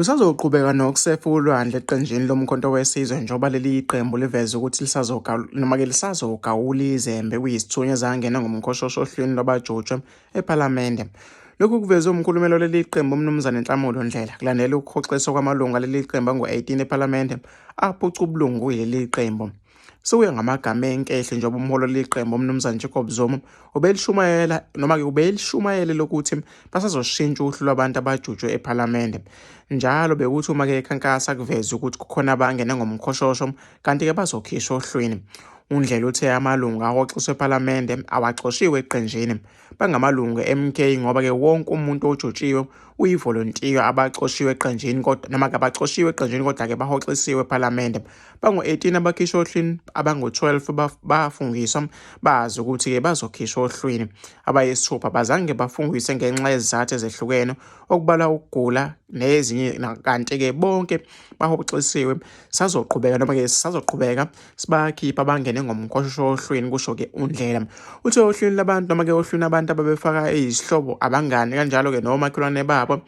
Lisazoqhubeka nokusefa ulwandle eqenjini lomkhonto wesizwe njengoba leli qembu liveze ukuthi noma-ke lisazogawula izembe kuyisithunywa ezangena ngomkhoshosho ohlwini lwabajutshwe ephalamende. Lokhu kuvezwe umkhulumeli waleli qembu uMnumzane Nhlamulo Ndlela kulandela ukuhoxiswa kwamalungu aleli qembu angu-18 ephalamende aphuca ubulungu kuleli qembu. Sekuya ngamagama enkehlo njengoba umholo leqembu uMnumzane Jacob Zuma ubelishumayela noma-ke ubelishumayele lokuthi basazoshintsha uhlu lwabantu abajutshwe ePhalamende. Njalo bekuthi uma-ke ekhankasa kuveze ukuthi kukhona abangene ngomkhoshosho kanti-ke bazokhishwa ohlwini. UNdlela uthe amalungu ahoxiswe ePhalamende awaxoshiwe eqenjini bangamalungu e-MK ngoba-ke wonke umuntu ojotshiwe uyivolontiya abacoshiwe eqenjini kodwa noma kabacoshiwe eqenjini kodwa-ke bahoxisiwe ephalamende bangu-18 abakhishwa ohlwini abangu-12 bafungiswa bazi ukuthi-ke bazokhishwa ohlwini abayisithupha bazange bafungise ngenxa yezizathu ezehlukene okubala ukugula nezinye kanti-ke bonke bahoxisiwe sazoqhubeka noma-ke sazoqhubeka sibakhipha bangene ngomkhoshosho ohlweni kusho-ke undlela uthe ohlwini labantu noma-ke ohlwini abantu ababefaka izihlobo abangani kanjalo-ke nomakhelwane babo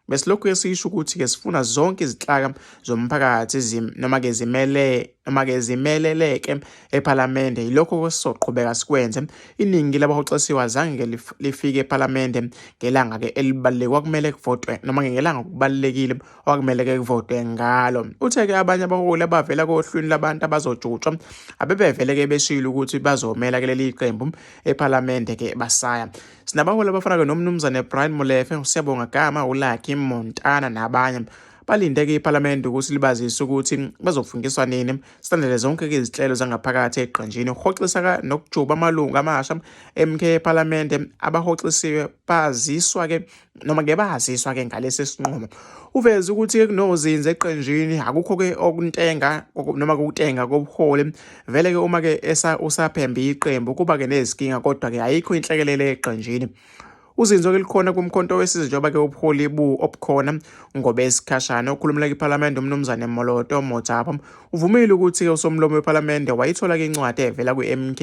besilokhu esisho ukuthi-ke sifuna zonke izihlaka zomphakathi noma-ke zimele noma-ke zimeleleke ephalamende yilokho kwesizoqhubeka sikwenze iningi labahoxisiwe azange-ke lifike ephalamende ngelanga-ke elibaluleke kwakumele kuvotwe noma-ke ngelanga kubalulekile okwakumele ke kuvotwe ngalo uthe ke abanye abaholi abavela kohlwini labantu abazojutshwa abebevele ke beshilo ukuthi bazomela ke leli qembu ephalamende ke basaya sinabaholi abafana ke nomnumzane Brian Molefe usiyabonga gama uLucky Montana nabanye balinde ke iphalamende ukuthi libazise ukuthi bazofungiswa nini silandele zonke ke izinhlelo zangaphakathi eqenjini ukuhoxisa nokujuba amalungu amasha emkhe ephalamende abahoxisiwe baziswa ke noma ngeke baziswa ke ngalesi sinqumo uveze ukuthi kunozinze eqenjini akukho ke okuntenga noma kukutenga kobuholi vele ke uma ke esa usaphembe iqembu kuba ke nezikinga kodwa ke ayikho inhlekelele eqenjini uzinzo ke likhona kumkhonto wesizwe njengoba ke ubuholi bu obukhona ngobesikhashana okhulumela kwiPhalamende umnumzane Moloto Mojaba uvumile ukuthi ke usomlomo wePhalamende wayithola ke incwadi evela kwiMK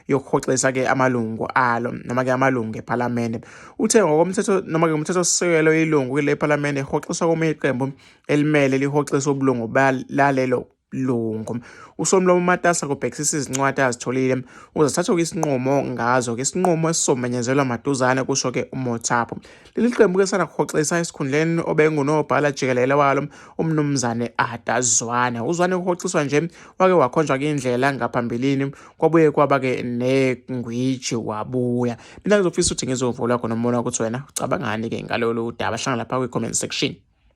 yokuhoxisa ke amalungu alo noma ke amalungu ePhalamende uthe ngokomthetho noma ke umthetho sisekelo ilungu kule ePhalamende ihoxiswa komunye iqembu elimele lihoxisa ubulungu balalelo lungu usomlomo matasa kubhekisisa izincwadi azitholile ukuze sathoke isinqumo ngazo ke isinqumo esizomenyezelwa maduzane kusho ke umothapo leli qembu ke sana kuhoxisa esikhundleni obengunobhala jikelele walo umnumzane adazwane uzwane kuhoxiswa nje wake wakhonjwa kindlela ngaphambilini kwabuye kwaba-ke negwiji wabuya mina ngizofisa ukuthi ngizovula khona umbona ukuthi wena ucabangani-ke ngalolu daba hlangana lapha kwi-comment section